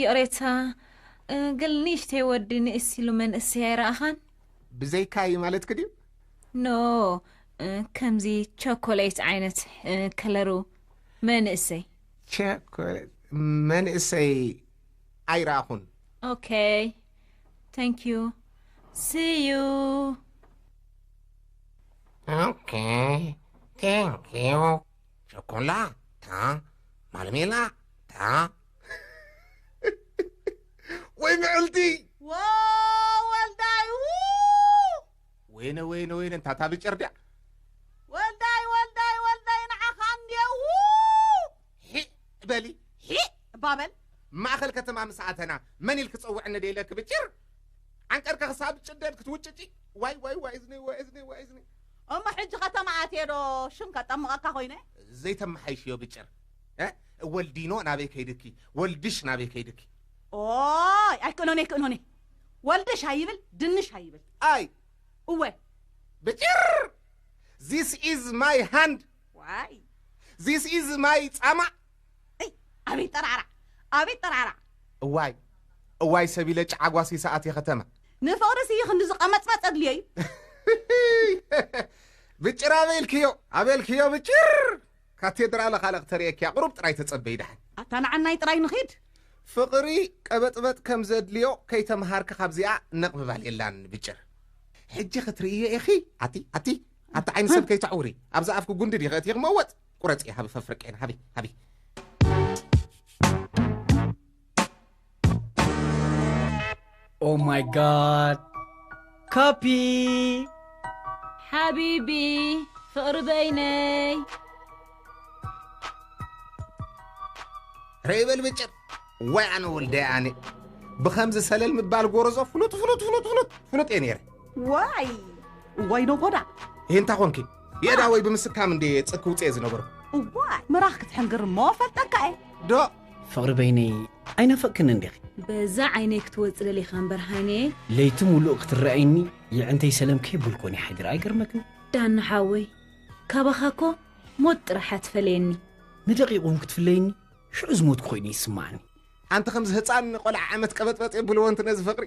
ይቕሬታ ግን ንእሽተይ ወዲ ንእስ ኢሉ መንእሰይ ኣይረኣኻን ብዘይካይ ማለትክ ድዩ ኖ ከምዚ ቸኮሌት ዓይነት ከለሩ መንእሰይ ቸኮሌት መንእሰይ ኣይረኣኹን ኦኬ ታንክ ዩ ስዩ ኦኬ ታንክ ዩ ቸኮላ ታ ማለሜላ ታ ወይ ምዕልቲ ወወልዳይ ወይነ ወይነ ወይነ እንታ እታ ብጭር ድያ ወልዳይ ወልዳይ ወልዳይ ንዓኻ እንድየ ሒእ በሊ ሒእ ባበል ማእኸል ከተማ ምስ ኣተና መን ኢል ክፀውዕ እንደ ኢለኪ ብጭር ዓንቀርካ ክሳብ ጭደድ ክትውጭጪ ዋይ ዋይ ዋይ እዝኒ ዋይ እዝኒ ዋይ እዝኒ እሞ ሕጂ ከተማ ኣትየ ዶ ሽም ከጠምቐካ ኮይነ። ዘይተመሓይሽዮ ግጭር እህ ወልዲኖ ናበይ ከይድኪ ወልድሽ ናበይ ከይድኪ። ኦይ ኣይክእሎን እየ ክእሎን እየ ወልድሽ ኣይብል ድንሽ ኣይብል። ኣይ እወ። ብጭር ዚስ ኢዝ ማይ ሃንድ ዋይ። ዚስ ኢዝ ማይ ጻማ። እይ ኣቤት ጠራዕራዕ ኣቤት ጠራዕራዕ። እዋይ እዋይ ሰቢለ ጭዓ ጓሲ ሰኣት እየ ከተማ። ንፍቕሪ ስይ ክንድዚ ቐመጽመጽ ኣድልዮ እዩ። እህህህህህ ብጭር ኣበልክዮ ኣበልክዮ ብጭር ካቴድራለ ካልእ ክተርእየኪያ ቁሩብ ጥራይ ተጸበዪ ደሓን። ኣታ ንዓናይ ጥራይ ንኺድ። ፍቕሪ ቀበጥበጥ ከም ዘድልዮ ከይተምሃርኪ ካብዚኣ ነቕ ምባል የላን ብጭር። ሕጂ ክትርእይዮ ኢኺ ኣቲ ኣቲ ኣቲ ዓይኒ ሰብ ከይተዕውሪ ኣብዛ ኣፍኪ ጉንዲ ዲኺ ኣእቲኺ መወጽ። ቁረፂ ሃቢ ፈፍርቄን ሃቢ ሃቢ ኦ ማይ ጋድ ካፒ ሓቢቢ ፍቕሪ በይነይ ረይ በል ብጭር ወይ ኣነ ወልደይ ኣነ ብኸምዚ ሰለል ምባል ጎረዞ ፍሉጥ ፍሉጥ ፍሉጥ ፍሉጥ ፍሉጥ እየ ነይረ ዋይ ዋይ ነጎዳ እንታይ ኮንኪ የእዳወይ ብምስካም እንድየ የጽ ክውጽኤ ዝነበርኩ። እዋይ ምራኽ ክትሕንግር እሞ ፈልጠካ'የ። ዶ። ፍቕሪ በይነይ ኣይናፈቕክንን ዲኺ? በዛ ዓይነይ ክትወጽእ ደሊኻ እምበር ሃይነየ። ለይቲ ምሉእ ክትረኣይኒ የዕንተይ ሰለም ከይበልኩ እኔ ሓዲረ ኣይገርመክን? ዳኒ ሓወይ ካባኻ እኮ ሞት ጥራሕ እያ ትፈለየኒ። ንደቂቕ እውን ክትፍለይኒ ሽዑ ዝሞትኩ ኮይኑ እዩ ዝስማዓኒ። ኣንተ ከምዚ ህጻን ቆልዓ ዓመት ቀበጥበጥ የብልዎ እንት ነዚ ፍቕሪ።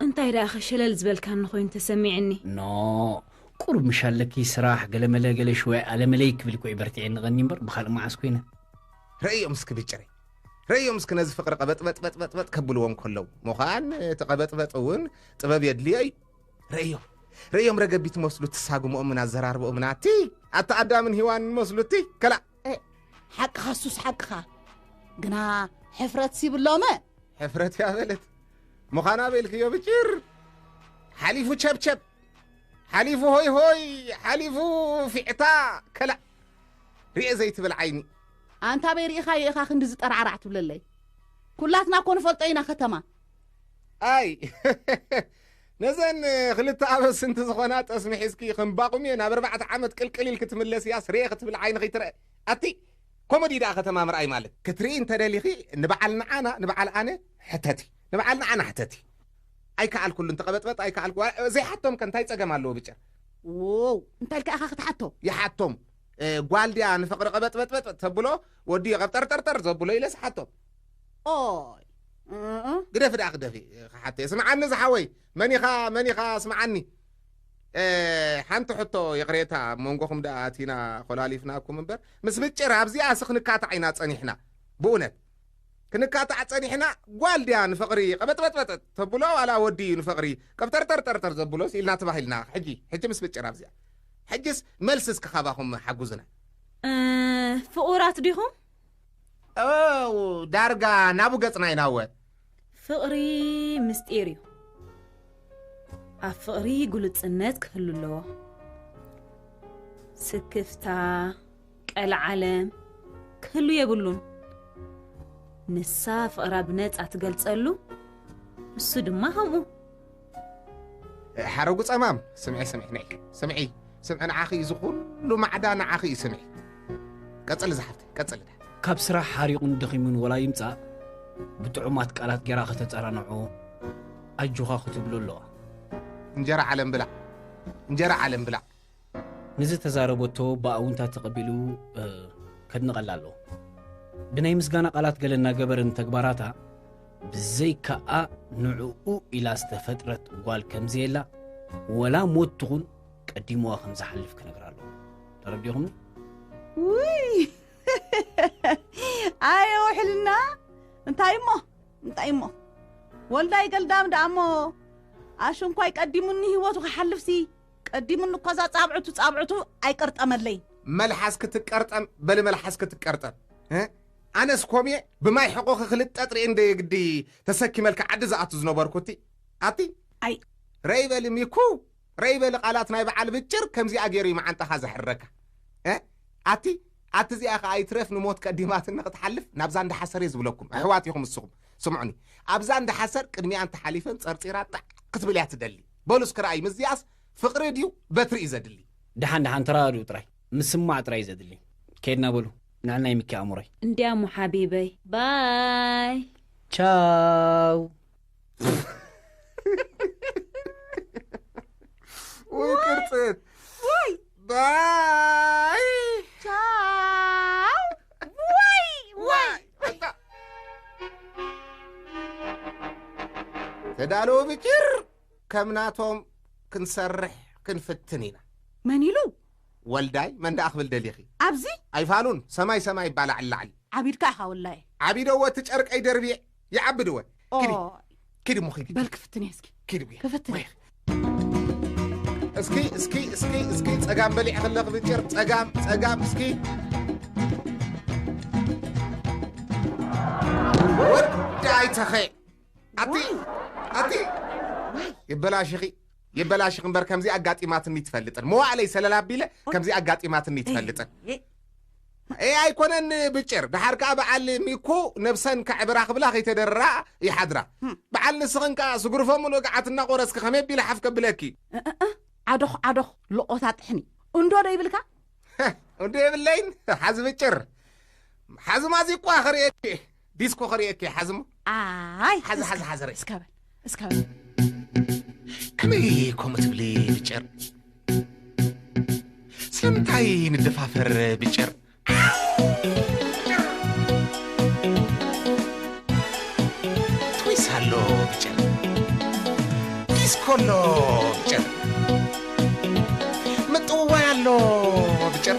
እንታይ ደኣኸ ሸለል ዝበልካኒ ኮይኑ ተሰሚዕኒ። ኖእ! ቁሩብ ምሻለኪ ስራሕ ገለመለ ገለ ሽወይ ኣለመለይ ክብል እኮ እዩ በርቲዐ እንቐኒ እምበር ብኻልእ መዓስ ኮይነ። ርእዮም እስኪ ብጭሪ ርእዮም እስኪ ነዚ ፍቕሪ ቐበጥበጥበጥበጥ ከብልዎ እንከለው ምዃን እቲ ቐበጥበጥ እውን ጥበብ የድልዮ እዩ ርእዮም ርእዮም ረገቢት መስሉ እቲ ሳጉምኦምን ኣዘራርብኦምን ኣቲ ኣቲ ኣዳምን ሂዋንን መስሉ እቲ ከላእ ሓቅኻ ኣሱስ ሓቅኻ ግና ሕፍረት ሲብሎመ ሕፍረት እያ በለት ምዃና በልክዮ ብጭር ሓሊፉ ቸብቸብ ሓሊፉ ሆይ ሆይ ሓሊፉ ፊዕታ ከላእ ርኤ ዘይትብል ዓይኒ ኣንታ በይ ርኢኻዮ ኢኻ ክንዲ ዝጠራዕራዕ ትብለለይ ኩላትና እኮ ንፈልጦ ኢና ከተማ ኣይ ነዘን ክልተ ኣበስንቲ ዝኾና ጠስሚ ሒዝኪ ከም ባቁምየ ናብ ኣርባዕተ ዓመት ቅልቅል ኢልኪ ትምለስያስ ርየ ክትብሊ ዓይኒ ከይትረእ ኣቲ ኮመዲ እዩ ደኣ ከተማ ምርኣይ ማለት። ክትርኢ እንተደሊኺ ንበዓል ንዓና ንበዓል ኣነ ሕተቲ ንበዓል ንዓና ሕተቲ። ኣይከኣልኩሉን ተቐበጥበጥ ኣይከኣልኩ ዋላ ዘይሓቶምከ እንታይ ጸገም ኣለዎ ብጭር። ዎው እንታይ ኢልካ ኢኻ ክትሓቶ። ይሓቶም ጓል ድያ ንፍቕሪ ቐበጥበጥበጥ ተብሎ ወዲ እዩ ቐብጠርጠርጠር ዘብሎ ኢለስ እሓቶ። ኦይ እእ ግደፊ ደኣ ክደፊ ክሓተየ ስምዓኒ ዝሓወይ መን ኢኻ መን ኢኻ ስምዓኒ ሓንቲ ሕቶ ይቕሬታ ኣብ መንጎኹም ደኣ ኣቲና ኮላሊፍናኩም እምበር ምስ ምጭር ኣብዚኣ ሲ ክንካታዕ ኢና ጸኒሕና ብእውነት ክንካታዕ ጸኒሕና ጓል ድያ ንፍቕሪ ቐበጥበጥበጥ ተብሎ ዋላ ወዲ እዩ ንፍቕሪ ቀብጠርጠርጠርጠር ዘብሎስ ኢልና ተባሂልና ሕጂ ሕጂ ምስ ምጭር ኣብዚኣ ሕጅስ መልሲ እስኪ ካባኹም ሓጉዝና ፍቑራት ዲኹም እው ዳርጋ ናቡ ገጽና ኢና እወ። ፍቕሪ ምስጢር እዩ። ኣብ ፍቕሪ ግሉጽነት ክህሉ ኣለዎ። ስክፍታ፣ ቀልዓለም ክህሉ የብሉን። ንሳ ፍቕራ ብነጻ ትገልጸሉ፣ ንሱ ድማ ከምኡ። ሓረጉ ጸማም ስምዒ ስምዒ ናይ ስምዒ ስምዒ ንዓኺ እዩ ዝኹሉ ማዕዳ ንዓኺ እዩ ስምዒ ቀጽሊ ዝሓፍተ ቀጽሊ ካብ ስራሕ ሓሪቑን ደኺሙን ወላ ይምጻእ ብጥዑማት ቃላት ጌራ ከተጸናንዖ ኣጆኻ ክትብሎ ኣለዋ እንጀራ ዓለም ብላዕ እንጀራ ዓለም ብላዕ ንዝተዛረበቶ ብኣውንታ ተቐቢሉ ከድንቐላ ኣለዎ። ብናይ ምስጋና ቃላት ገለ እናገበረ ንተግባራታ ብዘይካኣ ንዕኡ ኢላ ዝተፈጥረት ጓል ከምዘየላ ወላ ሞት ትኹን ቀዲምዋ ከም ዝሓልፍ ክነግራ ኣለዎ። ተረዲኹም? ውይ ኣየ ውሕልና እንታይ እሞ እንታይ እሞ ወልዳይ ገልዳም ደኣ እሞ ኣሽንኳይ ቀዲሙኒ ህይወቱ ክሓልፍሲ ቀዲሙኒ እኮ እዛ ጻብዕቱ ጻብዕቱ ኣይቀርጠመለይን። መልሓስ ክትቀርጠም በሊ መልሓስ ክትቀርጠም እ ኣነስ ኮምየ ብማይ ሕቆኺ ክልተ ጠጥሪ እንደ ግዲ ተሰኪመልኪ ዓዲ ዝኣቱ ዝነበርኩ እቲ ኣቲ ኣይ ረይ በሊ ሚኩ ረይ በሊ ቃላት ናይ በዓል ብጭር ከምዚኣ ገይሩ እዩ መዓንጣኻ ዘሕረካ እ ኣቲ ኣቲ እዚኣ ከዓ ይትረፍ ንሞት ቀዲማትኒ ክትሓልፍ ናብዛ እንዳሓሰር እየ ዝብለኩም ኣሕዋት ኢኹም እስኹም ስምዑኒ ኣብዛ እንዳሓሰር ቅድሚኣን ተሓሊፈን ፀርፂራ ጣዕ ክትብል እያ ትደሊ በሉ እስኪ ረኣይ ምስዚኣስ ፍቅሪ ድዩ በትሪ እዩ ዘድሊ። ደሓን ደሓን ተረዳድኡ ጥራይ ምስማዕ ጥራይ እዩ ዘድሊ ከይድና በሉ ንዕል ናይ ሚኪ ኣእምሮይ። እንድያ እሞ ሓቢበይ ባይ። ቻው። ውይ ቅርፅት ባይ። ቻው። ተዳለዉ ብጭር ከም ናቶም ክንሰርሕ ክንፍትን ኢና መን ኢሉ ወልዳይ መን ደኣ ክብል ደሊኺ ኣብዚ ኣይፋሉን ሰማይ ሰማይ ይባላዕ ላዕሊ ዓቢድካ ኢኻ ወላይ ዓቢደዎ እቲ ጨርቀይ ደርቢየ ይዓቢ ድወ ኪዲ ኪዲ እሞ ኪዲ በል ክፍትን እየ እስኪ ኪዲ ጉያ ክፍትን እየ እስኪ እስኪ እስኪ እስኪ ጸጋም በሊዕ ከለ ክብጭር ጸጋም ጸጋም እስኪ ወዲ ኣይተኸ ኣቲ ኣቲ ይበላሽኺ ይበላሽኺ እምበር ከምዚ ኣጋጢማትኒ ትፈልጥን መዋዕለይ ሰለላ ኣቢለ ከምዚ ኣጋጢማትኒ ትፈልጥን ኤህ ኣይኮነን ብጭር ደሓር ከኣ በዓል ሚኩ ነብሰን ከዕብራ ክብላ ከይተደርራ ይሓድራ በዓል ንስኽን ከኣ ስጉርፎ ምሉእ ገዓት እናቆረስኪ ከመይ ኣቢለ ሓፍ ከብለኪ እእእ ዓዶኽ ዓዶኽ ሎቆታ ጥሕኒ እንዶ ዶ ይብልካ እንዶ የብለይን ሓዚ ብጭር ሓዚ ማዚቋ ክርእየኪ ዲስኮ ከርእየኪ እየ ሓዚ እሞ ኣይ ሓዚ እስከ- ሓዚ ሓዘረ እስከ በል እስከ በል ከመይ ከምኡ ትብሊ ብጭር ስለምንታይ ንደፋፈር ብጭር ትዊስ ኣሎ ብጭር ዲስኮ ኣሎ ብጭር ምጥውዋይ ኣሎ ብጭር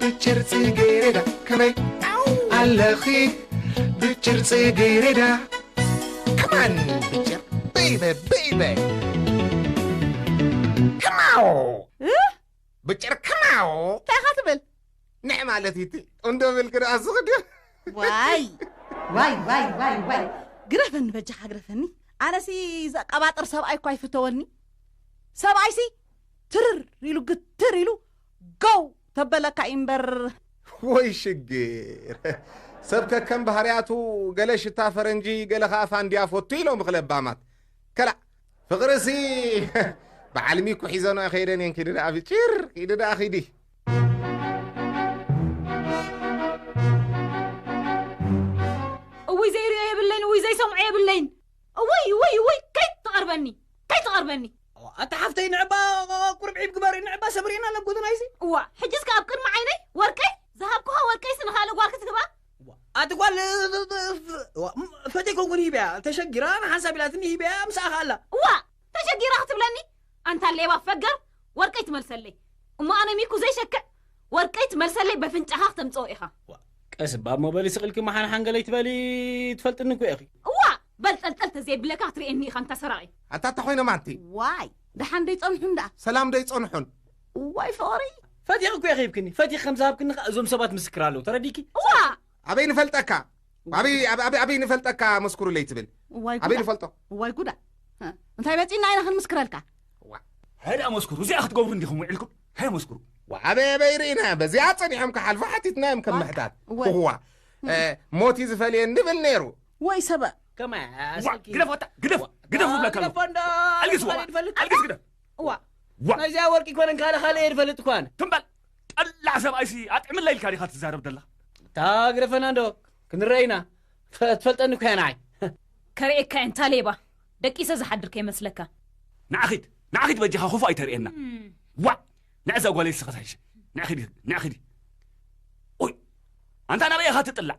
ብጭር ጽጌሬዳ ከመይ ኣለኺ ብጭር ጽጌሬዳ ከማን ብጭር በይበ በይበ ከማው ብጭር ከማው እንታይ ኢኻ ትብል ንዕ ማለት እዩ እቲ እንዶ ብልክ ደኣ ዝኽድዮ ዋይ ዋይ ዋይ ዋይ ዋይ ግረፈኒ በጃኻ ግረፈኒ ኣነሲ ዘቀባጥር ሰብኣይ እኳ ኣይፍተወኒ ሰብኣይሲ ትርር ኢሉ ግትር ኢሉ ጎው ተበለካ ኢምበር። ወይ ሽግር! ሰብ ከከም ባህርያቱ ገለ ሽታ ፈረንጂ ገለ ከኣ ፋንድያ ፎቱ እዩ ሎምኽ ለባማት። ከላእ! ፍቕሪሲ በዓል ሚኩ ሒዘንኦ ኣይከይደን እየን ኪዲ ደኣ ፊጪር! ኪዲ ደኣ ኪዲ! እውይ ዘይሪኦ የብለይን እውይ ዘይሰምዖ የብለይን እውይ እውይ እውይ ከይትቐርበኒ ከይትቐርበኒ። ኣታ ሓፍተይ ንዕባ ቁርብ ዒብ ግበሪ ንዕባ ሰብሪና ናብ ጎደናይሲ እዋ ሕጅስ ከ ኣብ ቅድሚ ዓይነይ ወርቀይ ዝሃብኩኻ ወርቀይሲ ንኻልእ ጓል ክትህባ ኣቲ ጓል ፈተይ ኮንኩን ሂበያ ተሸጊራ ንሓንሳብ ኢላትኒ ሂበያ ምስኣ ከ ኣላ እዋ ተሸጊራ ክትብለኒ ኣንታ ሌባ ፈገር ወርቀይ ትመልሰለይ እሞ ኣነ ሚኩ ዘይሸክዕ ወርቀይ ትመልሰለይ በፍንጫኻ ክተምፅኦ ኢኻ ቀስ እባ እሞ በሊ ስቕልኪ መሓንሓን ገለይ ትበሊ ትፈልጥኒ እኮ ኢኺ እዋ በል ጸልጸል ተዘይብለካ ክትርእየኒ ኢኻ እንታ ሰራቒ። ኣታ እታ ኮይኖም ኣንቲ። ዋይ ደሓን ዶ ይጸንሑን ደኣ። ሰላም ዶ ኣይጸንሑን። እዋይ ፍቕሪ። ፈቲኺ እኮ ኢኺ ሂብክኒ ፈቲኺ ከም ዝሃብክኒ ከኣ እዞም ሰባት ምስክር ኣለዉ ተረዲእኪ። ዋእ። ኣበይ ንፈልጠካ ኣበይ ኣብ ኣብ ኣበይ ንፈልጠካ መስኩሩለይ ትብል እዋይ ኣበይ ጉዳ። ንፈልጦ እዋይ ጉዳ። እ፣ እንታይ መጺእና ኢና ክንምስክረልካ። ሃይ ደኣ መስኩሩ እዚኣ ክትገብሩ እንዲኹም ውዒልኩም ሃይ መስኩሩ። ኣበይ ኣበይ ርኢና በዚኣ ጸኒሖም ክሓልፉ ሓቲትናዮም ከም ምሕታት እወ። እዋ እ፣ ሞት እዩ ዝፈልየን ንብል ነይሩ ወይ ሰበ ከመ ኣሰኪ ግደፍ ወጣ ግደፍ ግደፍ ዝብለካ ኣለኹ ግደፎ እንዶ ኣልግስ ዋ ካልእ ፈልጥ ኣልግስ ግደፍ እዋ ዋ ናይዚኣ ወርቂ ኮነን ካልእ ካልእ እየ ዝፈልጥ ኳን ትም በል ጠላዕ ሰብኣይሲ ኣጥዕምላ ኢልካ ዲኻ ትዛረብ ደለኻ እታ ግደፈና እንዶ ክንረአ ኢና ፈ- ትፈልጠኒ እኮ እያ ንዓይ ከርእየካ እየ እንታ ሌባ ደቂሰ ዝሓድር ከይመስለካ ንዓኺድ ንዓኺድ በጃኻ ክፉእ ኣይተርእየና ዋ ንዕዛ ጓለይ ስኸ ዝሕሸ ንዕኺድ ንዕኺድ ኦይ ኣንታ ናበይ ኢኻ ትጥላዕ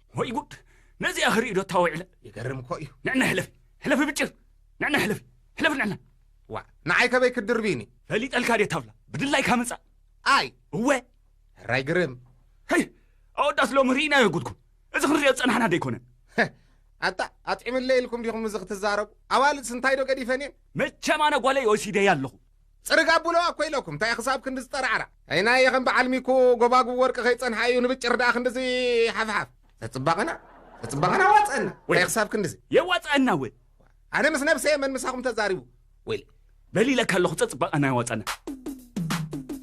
ወይ ጉድ ነዚኣ ክርኢ ዶ ታዊዕለ ይገርም እኮ እዩ ንዕና ሕለፊ ሕለፊ ብጭር ንዕና ሕለፊ ሕለፊ ንዕና ዋ ንዓይ ከበይ ክትድርቢኒ ፈሊጠልካ ድየ ታብላ ብድላይካ ምፃእ ኣይ እወ ሕራይ ግርም ሀይ ኣወዳት ሎሚ ርኢናዮ ጉድኩም እዚ ክንሪኦ ዝፀናሕና ዶ ኣይኮነን ኣታ ኣጥዒምለይ ኢልኩም ዲኹም እዚ ክትዛረቡ ኣዋልድስ እንታይ ዶ ገዲፈን እየን መቸም ኣነ ጓለይ ወሲደያ ኣለኹ ጽርግ ኣብሎ ኣኮ ኢለኩም እንታይ ክሳብ ክንድዚ ጠራዕራዕ። ኣይናየ ከም በዓል ሚኩ ጎባጉብ ወርቂ ከይጸንሓ እዩ ንብጭር ደኣ ክንድዚ ሓፍሓፍ። ተጽባቀና ተጽባቀና ኣዋጸአና እንታይ ክሳብ ክንድዚ። የዋጸኣና ወ። ኣነ ምስ ነብሰየ መን ምሳኹም ተዛሪቡ ወይለይ። በል ኢለካ ኣለኹ ተጽባቀና የዋጸኣና።